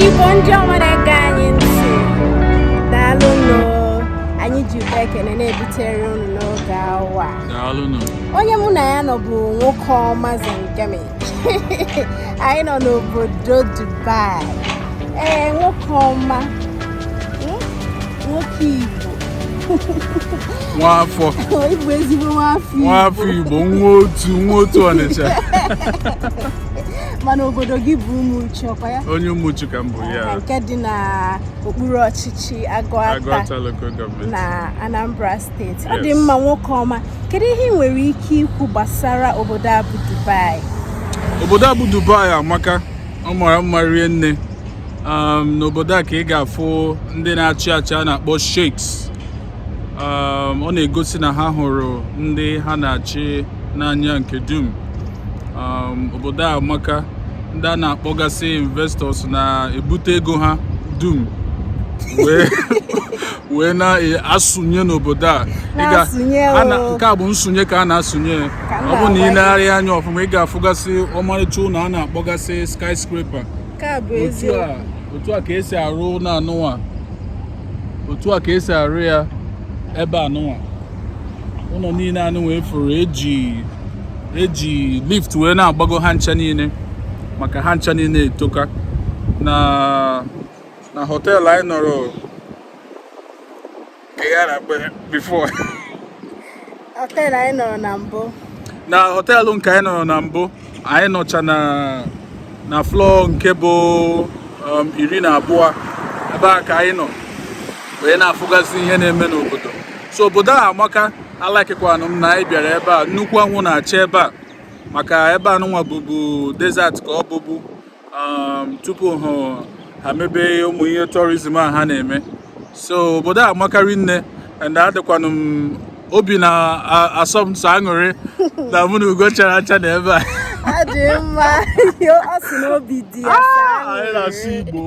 Igbo ndị ọma na-ege anyị ntị daalụ nụ anyị ji ụba ekene na-ebutere unu n'oge awa onye mụ na ya nọ bụ nwoke ọma Zengemi anyị nọ n'obodo Dubai ee nwoke ọma nwoke Igbo nwafọ ị bụ ezigbo nwafọ Igbo nwafọ Igbo nwa otu nwa otu Ọnịcha mana obodo gị bụ Umuchu ọkwa ya onye Umuchu ka m bụ yeah, nke dị na okpuru ọchịchị Agụata na Anambra steeti ọ dị mma nwoke ọma kedu ihe ị nwere ike ikwu gbasara obodo a bụ Dubai obodo a bụ Dubai amaka ọ mara mma rie nne um, n'obodo a ka ị ga-afụ ndị na-achị achị a na-akpọ sheiks um, ọ na-egosi na ha hụrụ ndị ha na-achị n'anya nke dum um, obodo a amaka ndị a na-akpọgasị investors na-ebute ego ha dum wee wee na-asụnye n'obodo a nke a bụ nsụnye ka a na-asụnye ọ bụ na i legharịa anya ọfụma ị ga-afụgasị ọmarịcha ụnọ a na-akpọgasị skyscraper otu a ka e si arụ ụnọ anụnwa otu a ka e si arụ ya ebe anụnwa ụnọ niile anụnwa ị fụrụ e ji e ji lift wee na-agbago ha ncha niile maka ha ncha niile etoka na na họteelụ anyị nọrọ họteelụ anyị nọrọ na mbụ na họteelụ nke anyị nọrọ na mbụ anyị nọcha na na floor nke bụ um, iri na abụọ ebe a ka anyị nọ wee na-afụgasị ihe na-eme n'obodo so obodo a amaka alakịkwanụ m na anyị bịara ebe a nnukwu anwụ na-acha ebe a maka ebe anụnwa bụbu desert ka ọ bụbu um, tupu ha mebe ụmụ ihe tourism a ha na-eme so obodo a amaka rie nne and adịkwanụ m obi na-asọ m ụsọ aṅụrị na mụ na ugo chara acha nọ ebe a ọ dị mma ọ sị na obi dị ya ah, anyị na-asụ igbo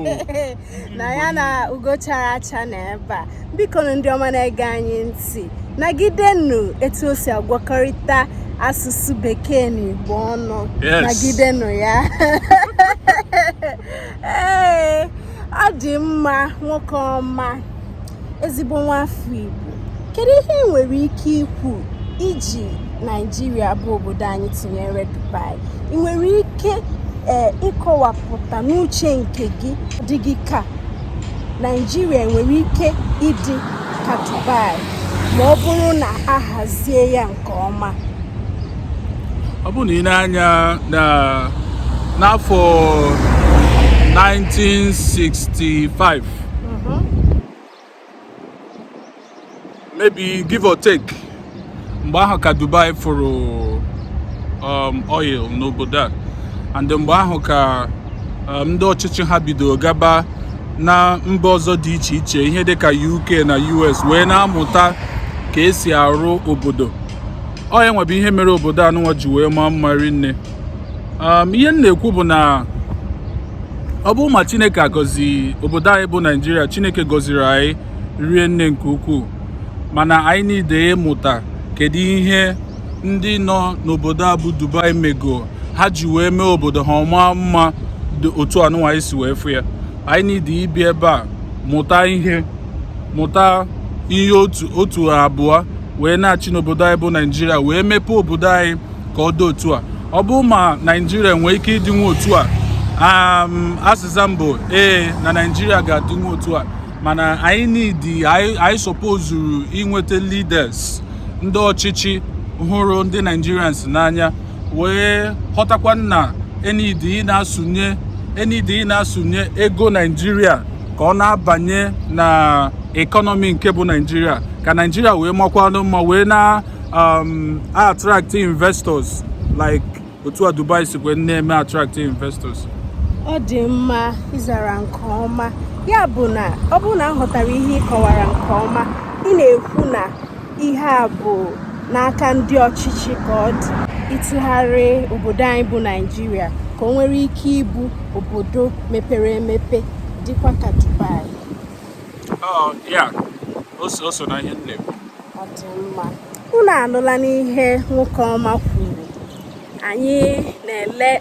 na ya na ugo chara acha nọ ebe a bikonụ ndị ọma na-ege anyị ntị nagidenụ etu o si agwakọrịta asụsụ bekee na igbo ọnụ nagidenụ ya ee ọ dị mma nwoke ọma ezigbo nwa afọ Igbo kedu ihe ị nwere ike ikwu iji Naijiria bụ obodo anyị tinyere Dubai ị nwere ike ee ịkọwapụta n'uche nke gị dị gị ka Naijiria nwere ike ịdị ka Dubai ma ọ bụrụ na a hazie ya nke ọma ọ bụrụ na i nee anya n'afọ 1965 mm-hmm. maybe give or take mgbe ahụ ka Dubai fụrụ um, oil n'obodo a and mgbe ahụ ka um, ndị ọchịchị ha bidoro gaba na mba ọzọ dị iche iche ihe dịka UK na US wee na-amụta ka e si arụ obodo ọ ya nwa bụ ihe mere obodo anụnwa ji wee maa mma rinne um, ihe m na-ekwu bụ na ọ bụrọ ma chineke agọzi obodo anyị bụ naijiria chineke gọziri anyị rinne nke ukwuu mana anyị need ịmụta kedu ihe ndị nọ n'obodo a bụ dubai mego ha ji wee mee obodo ha ọ maa mma otu anụnwa anyị si wee fụ ya anyị need ịbịa ebe a mụta ihe mụta ihe otu otu abụọ wee naghachi n'obodo anyị bụ naijiria wee mepee obodo anyị ka ọ dị otu a ọ bụrụ ma naijiria nwere ike ịdịnwu otu a azịza m bụ ee na naijiria ga-adịnwu otu a mana anyị need anyị sọpozuru inweta leaders ndị ọchịchị hụrụ ndị Nigerians n'anya wee ghọtakwa na e need ị na-asụnye e need ị na-asụnye ego naijiria ka ọ na-abanye na economy nke bụ naijiria ka naijiria wee makwanụ mma wee na um, attract investors like otu a Dubai sikwe na-eme attract investors ọ dị mma ị zara nke ọma ya bụ na ọ bụrụ na aghọtara m ihe ị kọwara nke ọma ị na-ekwu na ihe a bụ n'aka ndị ọchịchị ka ọ dị ịtụgharị obodo anyị bụ naijiria ka o nwere ike ịbụ obodo mepere emepe dịkwa ka dubai oh, ọ dị mma unu anụlanụ ihe nwoke ọma kwuru anyị na-ele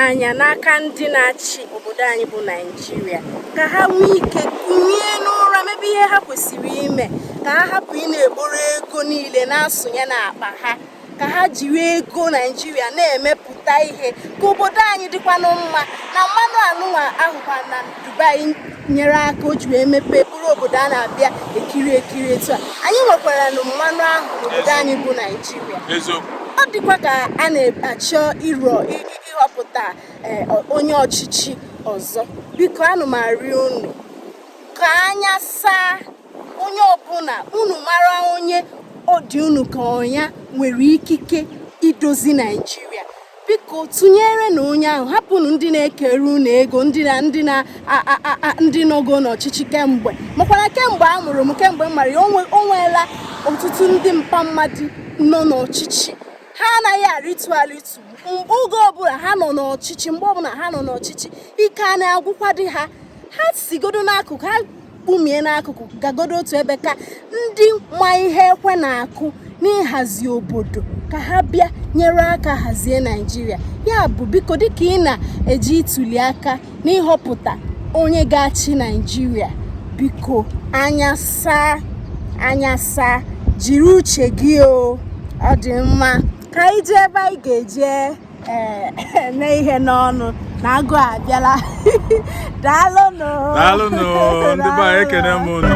anya n'aka ndị na-achị obodo anyị bụ naijiria ka ha nwee ike kunie n'ụra mebe ihe ha kwesịrị ime ka ha hapụ ị na-ekporo ego niile na-asụnye n'akpa ha ka ha jiri ego naijiria na-emepụta ihe ka obodo anyị dịkwanụ mma na mmanụ anụnwa a hụkwa na dubai nyere aka o ji wee mepee bụrụ obodo a na-abịa ekiri ekiri etu a anyị nwekwaranụ mmanụ ahụ n'obodo anyị bụ naijiria ọ dịkwa ka a na-achọ ịrọ ịhọpụta eh, onye ọchịchị ọzọ biko ana m arịọ unu ka anya saa onye ọbụla unu mara onye ọ dị unu ka ọ ya nwere ikike idozi naijiria biko tụnyerenụ onye ahụ hapụnụ ndị na-ekere unu ego ndị nọgo n'ọchịchị kemgbe makwana kemgbe a mụrụ m kemgbe m mara ya o nweela ọtụtụ ndị mpa mmadụ nọ n'ọchịchị ha anaghị arịtu arịtu mgbe oge ọbụla ha nọ n'ọchịchị mgbe ọbụla ha nọ n'ọchịchị ike a na-agwụkwadị ha ha sigodo n'akụkụ ha kpumie n'akụkụ gagodo otu ebe ka ndị ma ihe ekwe na-akụ n'ịhazi obodo ka ha bịa nyere aka hazie naijiria ya bụ biko dịka ị na-eje ituli aka n'ịhọpụta onye ga-achị naijiria biko anya saa anya saa jiri uche gị o ọ dị mma ka anyị jee ebe anyị ga-eje ee eh, mee ihe n'ọnụ na agụụ abịala daalụnụ daalụnụ ndị be anyị ekene m unu